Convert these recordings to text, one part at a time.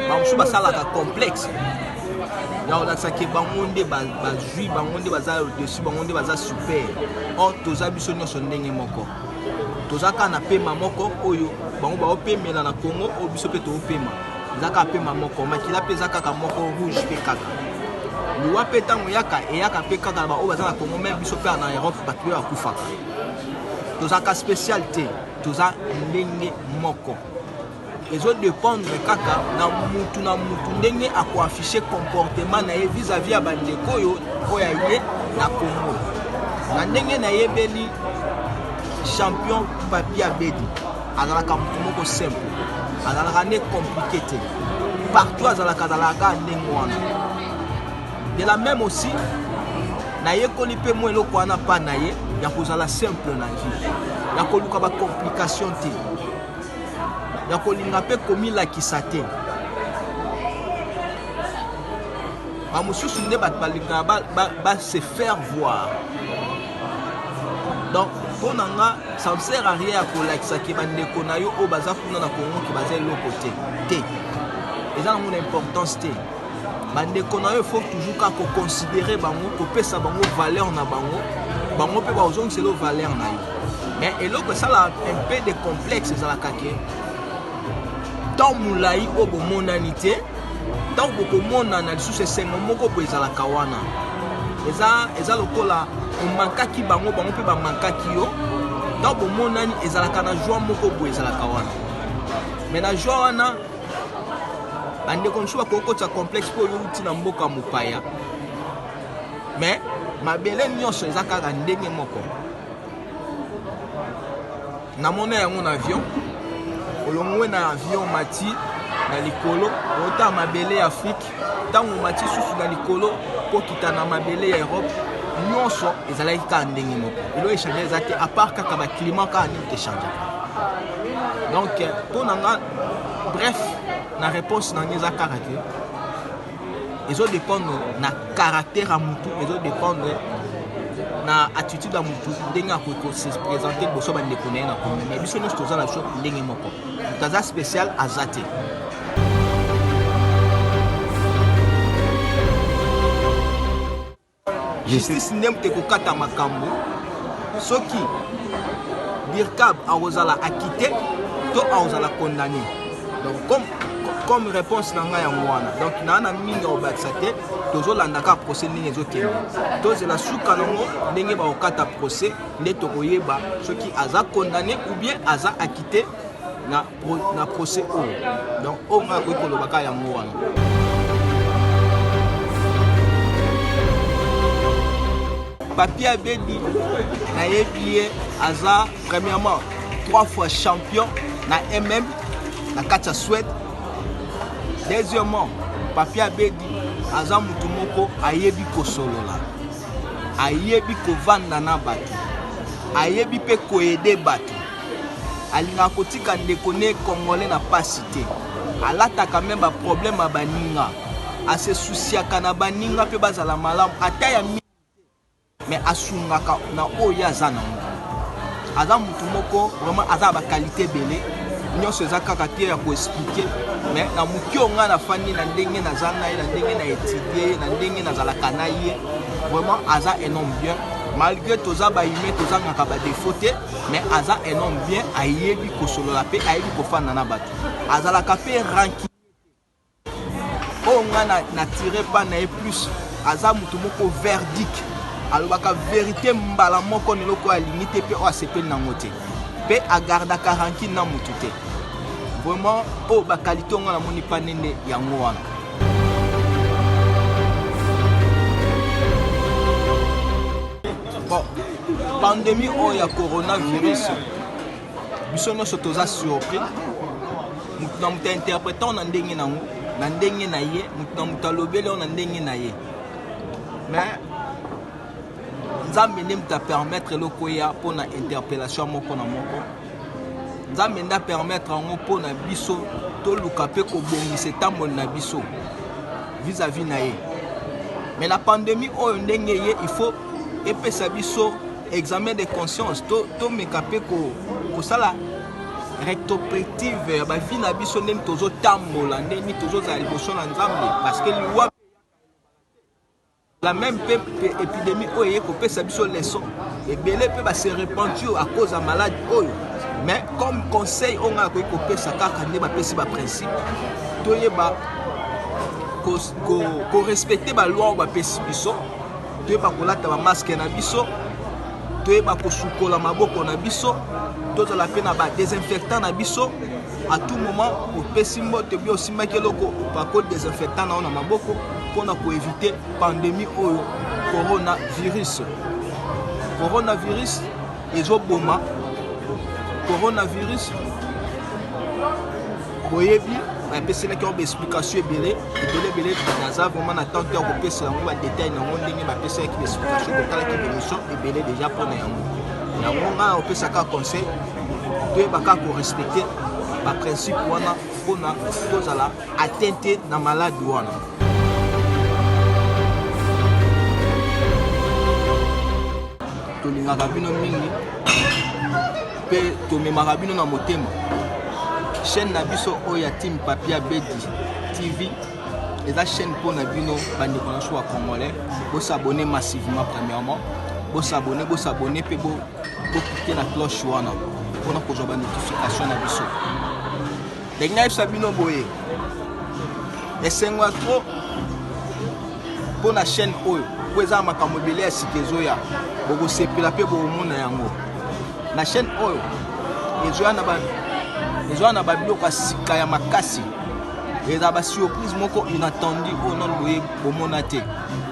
bamosusu basalaka complexe ya kolakisa ke bango nde bazwi bango nde baza dessus bango nde baza super or toza biso nyonso ndenge moko toza kaka na pema moko oyo bango baopemela na congo oyo biso mpe toopema eza kaka pema moko makila mpe eza kaka moko rouge mpe kaka liwa mpe ntango eyaka eyaka mpe kaka na baoyo baza na congo meme biso mpe na europe bato mpe bakufaka tozalaka spécial te toza ndenge moko ezodépendre kaka na mutu na mutu ndenge akoaffiche comportement na ye vis-à-vis ya bandeko oyo mpo ya ye na congo na ndenge nayebeli champion papi abedi azalaka motu moko simple azalaka nde compliqué te partout azalaka azalaka ndenge wana de la même aussi nayekoli mpe mwa eloko wana mpa na ye ya kozala simple na vie ya koluka bacomplication te ya kolinga mpe komilakisa te bamosusu nde bato balingaka base faire voir donc mpo na nga ça ne sert à rien ya kolakisa ke bandeko na yo oyo baza kuna na congo ke baza eloko te te eza nango na importance te bandeko na yo faut toujours kaka koconsidere bango kopesa bango valeur na bango bango mpe bakozongisela yo valeur na yo mais eloko esala un peu de complexe ezalaka ke temps molai oyo bomonani te ntango bokomonana lisusu esengo moko boye ezalaka wana eza, eza lokola omankaki bango bango mpe bamankaki yo ntango bomonani ezalaka na joi moko boye ezalaka wana me na joi wana bandeko mosusu bakoki kotisa complexe mpo oyo outi na mboka mopaya me mabele nyonso eza kaka ndenge moko Namona yango na avion. Olongwe na avion mati na likolo ota mabele ya Afrique ntango omati susu na likolo kokita na mabele ya Europe nyonso ezalaki kaka ndenge moko elo echange eza te apart kaka baclima kaka nini techange donc mpo na nga bref na réponse na nga eza kaka te ezo dependre na caractère ya mutu ezo dependre na attitude ya mutu ndenge akoki kose présente liboso bandeko na ye na komi mais biso nyonso toza na biso ndenge moko moto aza spécial aza te Justice nde moto ekokata makambo soki Dircab akozala acquitté to akozala condamné. Donc comme comme réponse na ngai yango wana donc naa na mingi ya kobakisa te tozolanda kaka procès ndenge ezokende tozela suka nango ndenge bakokata procès nde tokoyeba soki aza condamné ou bien aza acquitté na na procès oyo donc oyo ngai akoki koloba kaka yango wana papier abebi nayebi ye aza premièrement trois fois champion na mm na kati ya swede deuxièmement papier abedi aza motu moko ayebi kosolola ayebi kovanda na bato ayebi mpe koyede bato Alingaka kotika ndeko ne congolais na pasi te. Alataka meme ba problème ya baninga. Ase souciaka na baninga mpe bazala malamu ata ya mingi te. Mais asungaka na oyo ye aza na ngo. Aza mutu moko vraiment aza ba qualité ebele. Nyonso eza kaka te ya ko expliquer. Mais na muke oyo nga na fandi na ndenge naza na ye, na ndenge na etudier ye, na ndenge nazalaka na ye. Vraiment aza un homme bien. Malgre toza ba humains tozangaka ba defaut te. mais aza un homme bien ayebi kosolola mpe ayebi kofanda na bato azalaka mpe ranki oyo nga na, na tire pa na ye plus aza moto moko verdic alobaka verité mbala moko na eloko oyo alingi te mpe oyo asepeli nango te mpe agardaka ranki na motu te vraiment oyo bakalite ongo namoni pa nende yango wana Bon, pandemie oyo ya coronavirus, biso nyonso toza surpris. Moto na moto interprète na ndenge na yango, na ndenge na ye, moto na moto alobeli yango na ndenge na ye. Mais nzambe nde moto apermettre eloko eya mpo na interpellation moko na moko nzambe nde apermettre yango mpo na biso toluka mpe kobongisa etamboli na biso vis-à-vis na ye mais la pandémie oyo ndenge ye il faut epesa biso examen de conscience tomeka to mpe kosala ko rectopractive ya bavi na biso ndeni tozotambola ndeni tozozala liboso na nzambe parceke liwa la meme pe epidemie oyo eye kopesa biso leçon ebele pe ba se repentir à cause ya malade oyo mais comme conseil oyo ngai akoki kopesa kaka nde bapesi ba principe toyeba korespecte ba loi oyo bapesi biso toyeba kolata ba masque na biso toyeba kosukola maboko na biso tozala pe na ba desinfectant na biso à tout moment opesi mbote obi osimbaki eloko opakoli desinfectant na yo na maboko mpo na koevite pandémie oyo coronavirus coronavirus ezoboma coronavirus boyebi bapeselaki yango baexplication ebele ebele ebele naza vraiment na temps te ya kopesa yango badetail na yango ndenge bapeselaki baexplication kotalaki bemission ebele deja mpo na yango yango ngai opesaka conseil toyeba kaka korespecte baprincipe wana mpona tozala atteint te na malade wana tolingaka bino mingi mpe tomemaka bino na motema chaîne na biso oyo ya team papia bedi tv eza chaîne mpo na bino bandeko na biso ya congolais bosabone massivement premièrement bosabone bosabone mpe Bo cliquer na cloche wana pona kozwa ba notification na biso. Ndenge nayebisa bino boye, esengo ya trop mpo na chaîne oyo mpo eza na makambo ebele ya sika ezoya bokosepela mpe bokomona yango na chaîne oyo ezoya na babiloko ya sika ya makasi eza basurprise moko inattendu oyo nano boye bomona te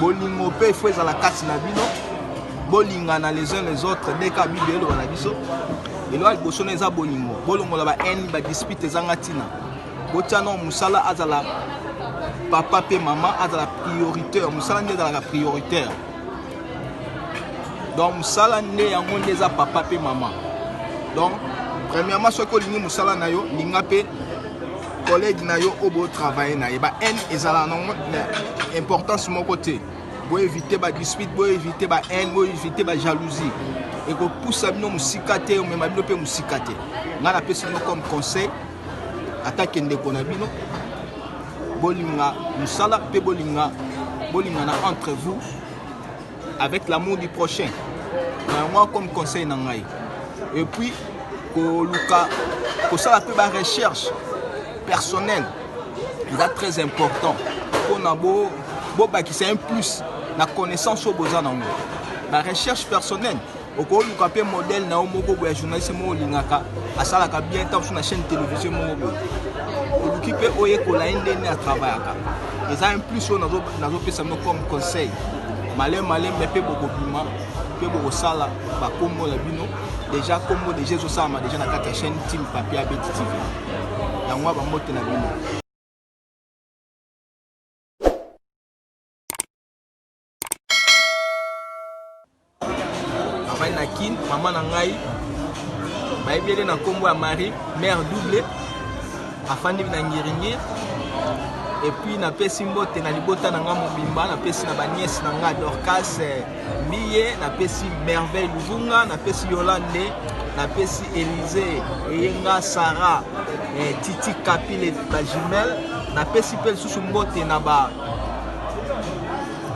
bolingo mpe ifo ezala kati na bino bolingana les uns les autres ndenge kaka biblia eloba na biso eloko ya liboso na eza bolingo bolongola ba haine ba dispute ezanga ntina botya no mosala azala papa mpe mama azala prioritaire mosala nde ezalaka prioritaire donc mosala nde yango nde eza papa mpe mama donc premièrement soki olingi mosala na yo linga mpe Collègue na yo obo travailler na ye ba haine ezala na importance moko te. Bo éviter ba dispute, bo éviter ba haine, bo éviter ba jalousie. Et ko poussa bino musika te, mais ma bino pe musika te. Nga na pesi bino comme conseil ata kende ko na bino bolinga musala pe bolinga bolingana entre vous avec l'amour du prochain na yango comme conseil na ngai et puis koluka kosala mpe ba recherche personnelle eza très important mpona bobakisa bo un plus na connaissance oyo boza nango ba recherche personnelle okoluka mpe modèle na yo moko boye ya journaliste moko olingaka asalaka bien ntango mosusu na chaîne télévision moko boye oluki mpe oyekola ye ndenge atravayaka eza un plus oyo nazopesa bino comme conseil male male me mpe bokobima mpe bokosala bakombo na bino deja kombo deja ezosalama deja na kati ya chaîne team papier abeti tv yango ya bambote na bino avandi na kin mama na ngai bayebi ele na nkombo ya marie mare double afandi na ngiringiri epuis napesi mbote na libota na ngai mobimba napesi na baniese na ngai dorcas eh, mbiye napesi merveille luvunga napesi yolande napesi elize eyenga sara eh, titi kapile bajumele napesi mpe lisusu mbote na ba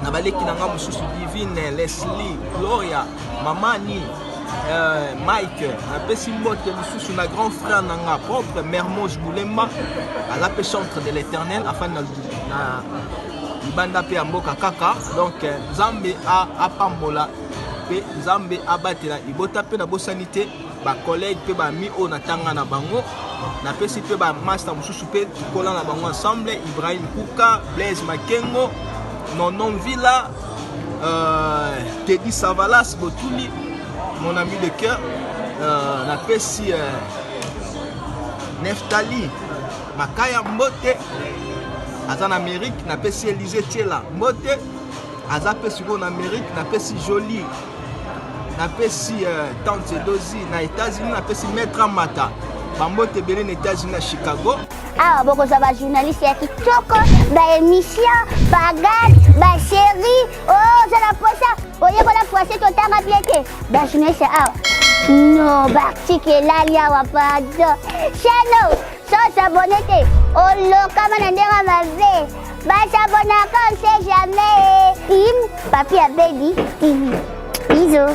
na baleki na nga mosusu divine leslie gloria mamani euh, mike napesi mbote mosusu na grand frère na nga propre mermos bulemba aza mpe centre de l'éternel afani na, na libanda mpe ya mboka kaka donc euh, nzambe apambola mpe nzambe abatela libota mpe nabosani te ba collègues mpe ba amis oyo natanga na bango napesi mpe ba masta mosusu mpe tokola na bango ensemble ibrahim kuka blaise makengo nonon villa euh, tedi savalas botuli mon ami de cœur euh, napesi euh, neftali makaya mbote aza na amérique napesi elise tiela mbote aza mpe sikoyo na amérique napesi jolie napesi euh, tante dozi na états-unis napesi maître amata bambote ebele na états-unis na chicago awa bokozwa bajournaliste ya kitoko baémission bagade basérie oza oh, na posa oyekola français totanga bie te bajournaliste awa no baartike elali awa pardon chano Sans abonner te, olokama na ndenge mabe. Basabonaka on sait jamais. Team Papi Abedi TV. Bisous.